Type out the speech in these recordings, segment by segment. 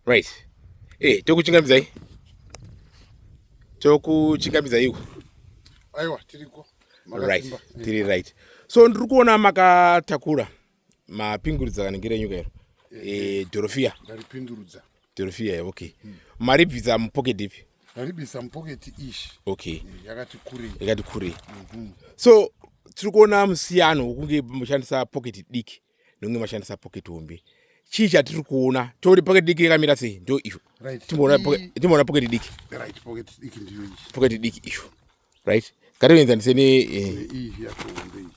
right eh tokuchingamidzai tokuchingamidzai iko aiwa tiriko right tiri right so ndiri kuona makatakura mapingurudza kanengera nyuka iro eh, eh, eh dorofia ndaripindurudza dorofia eh, okay hmm. maribvisa mupocket ipi ndaribisa mupocket ish okay yakati kurei yakati kurei mhm. so tiri kuona musiyano wekunge mushandisa pocket diki nonge mashandisa pocket hombe chii chatiri kuona toti pocket diki yakamira sei ndo izvo timboona pocket diki pocket diki izvo right ngatienzanise ne eh,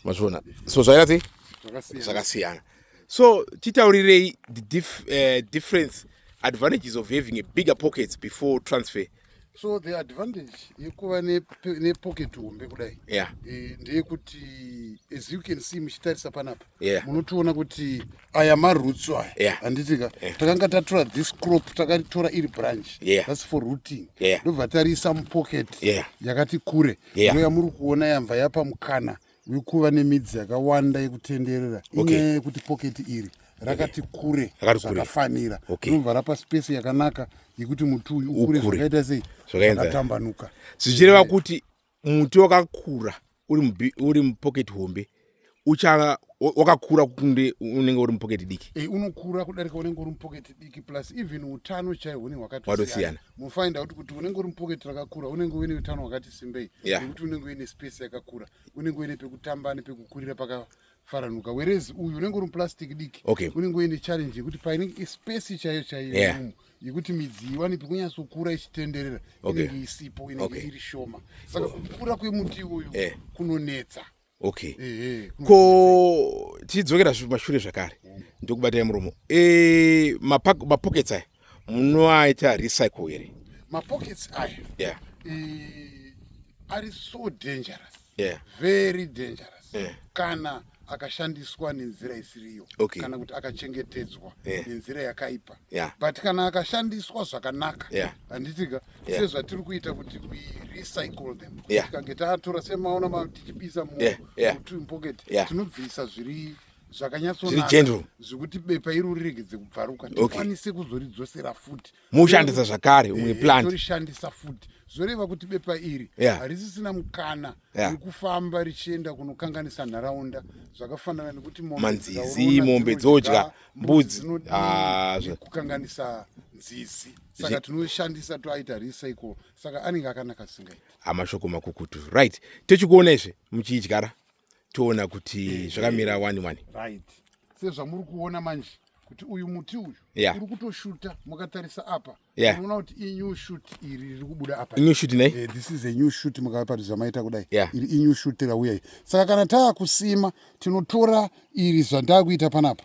mazviona so zvaira sei zvakasiyana so titaurirei the dif, uh, difference advantages of having a bigger pockets before transfer uh, so the advantage yekuva nepocket hombe kudai yeah. e, ndeyekuti as you can see muchitarisa panapa yeah. munotiona kuti aya marutsu aya yeah. handitika yeah. takanga tatora this crop takaritora iri branch yeah. thats for rooting ndobva yeah. tariisa mupocket yeah. yakati kure yeah. noya muri kuona yamva yapa mukana uri kuva nemidzi yakawanda yekutenderera inyaya okay. yekuti poketi iri rakati kure zvakafanira okay. rinobva rapa space yakanaka yekuti muti uyu ukure zvakaita sei zvakatambanuka zvichireva kuti muti wakakura uri mupoketi hombe ucha wakakura kunde unenge uri mupoketi diki e, unokura kudarika unenge uri mupoketi diki plus even utano chaihwo ne hwakatosiyana mufind out kuti unenge uri mupocket rakakura unenge uine utano hwakati simbei yeah. nekuti unenge uine space yakakura unenge uine pekutamba nepekukurira paka faranuka whereas uyu unenge uri muplastic diki okay. unenge uine challenge yekuti painenge space chaiyo chaiyo yeah. umu yekuti midzi iwanepi kunyatsokura ichitenderera okay. inenge isipo inenge okay. iri shoma saka so, kukura kwemuti uyu yeah. kunonetsa okay ehe ko tichidzokera zve- mashure zvakare ndokubatai muromo e, mapak- mapockets aya munoaita recycle here mapockets aya yeah eh, ari so dangerous yeah very dangerous Eh. kana akashandiswa nenzira isiriyo Okay. kana kuti akachengetedzwa Eh. nenzira yakaipa Yeah. but kana akashandiswa zvakanaka Yeah. handitika yeah. sezvatiri kuita kuti we recycle them yeah. tikange tatora semaona matichibisa mu yeah. yeah. pocket yeah. tinobvisa zviri zvakanyatsonaka zvekuti bepa iri uriregedze kubvaruka tikwanise okay. kuzoridzosera futi moshandisa zvakare umwe eh, plant torishandisa futi zvoreva kuti bepa iri yeah. harisisina mukana yeah. wekufamba richienda kunokanganisa nharaunda zvakafanana nekuti manzizi mombe dzodya mbudzi ah, kukanganisa nzizi saka tinoshandisa toaita recycle saka anenge akanaka singaiti amashoko makukutu right tochikuona izve muchiidyara toona kuti eh, eh, zvakamira eh. wani wani right sezvamuri kuona manje kuti uyu muti uyu yeah. uri kutoshuta mukatarisa apa yeah. unoona kuti inew shut iri riri kubuda apa new shut nei eh, this is a new shut mukapati zvamaita kudai yeah. iri inew shut rauya saka kana taakusima tinotora iri zvandakuita panapa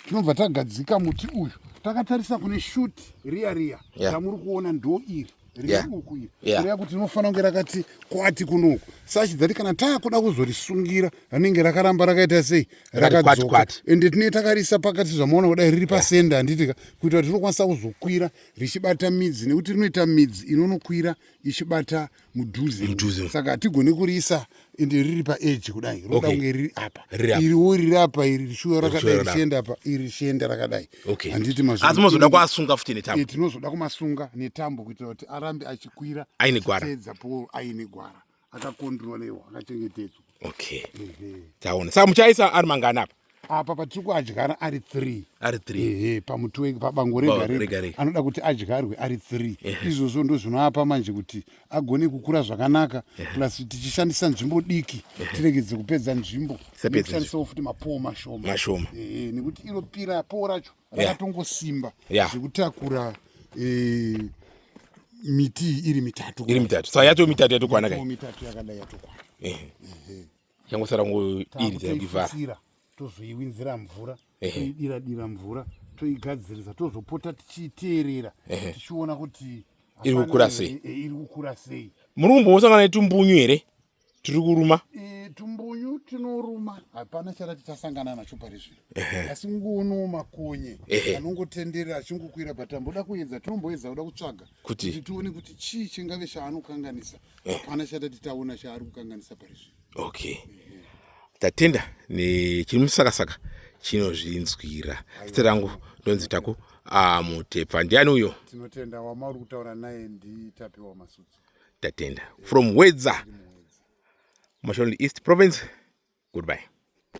tinobva tagadzika muti uyu takatarisa kune shuti riya riya ramuri kuona ndo iri riuku iri kureva kuti rinofanira kunge rakati kwati kunoku sachidhati kana taakuda kuzorisungira rinenge rakaramba rakaita sei rakadzoka ende tinee takarisa pakati zvamaona kudai riri pasende handitika kuitira kuti rinokwanisa kuzokwira richibata midzi nekuti rinoita midzi inonokwira ichibata mudhuze mudhuze saka hatigone kuriisa ende riri paedge kudai roda okay. kunge riri apa iriwo riri apa iri rishuwa rakadai richienda apa iri richienda rakadai okay. handiti mazvino asi mozoda kuasunga futi netambo e, tinozoda kumasunga netambo kuitira kuti arambe achikwira aine gwara teedza poro aine gwara akakondrolewa akachengetedzwa okay taona saka muchaisa ari mangani apa apa patiri kuadyara ari three ari three ehe pamuti we- pabango rega Bango rega rega rega. anoda kuti adyarwe ari three izvozvo ndo zvinoapa manje kuti agone kukura zvakanaka plus tichishandisa nzvimbo diki tiregedze kupedza nzvimbo Tisapedze nekushandisawo futi mapoo mashoma Mashoma. ehe nekuti iro pira poo racho Yeah. rakatongosimba Yeah. zvekutakura eh, miti iyi iri mitatu iri mitatu so yatoo mitatu yatokwana Mipoo kai mitatu yakadai yatokwana Ehe. yangosara kungodiridzira kuivhara tozoiwinzira mvura toidira dira mvura toigadzirisa tozopota tichiiteerera tichiona kuti iri kukura sei e, e, iri kukura sei muri kumbosangana netumbunyu here tiri kuruma e, tumbunyu tinoruma hapana chara tichasangana nacho pari zvino asi ngoonowo makonye anongotenderera achingokwira but amboda kuedza tinomboedza kuda kutsvaga kuti tione kuti chii chingave chaanokanganisa eh. hapana eh. chatati taona chaari kukanganisa pari zvino okay eh. tatenda nechiri musakasaka chinozvinzwira zita rangu ndonzi taku amutepfa ndiani uyo tinotenda wamauri kutaura naye nditapiwa masudzi tatenda from wedza mashonli east province goodbye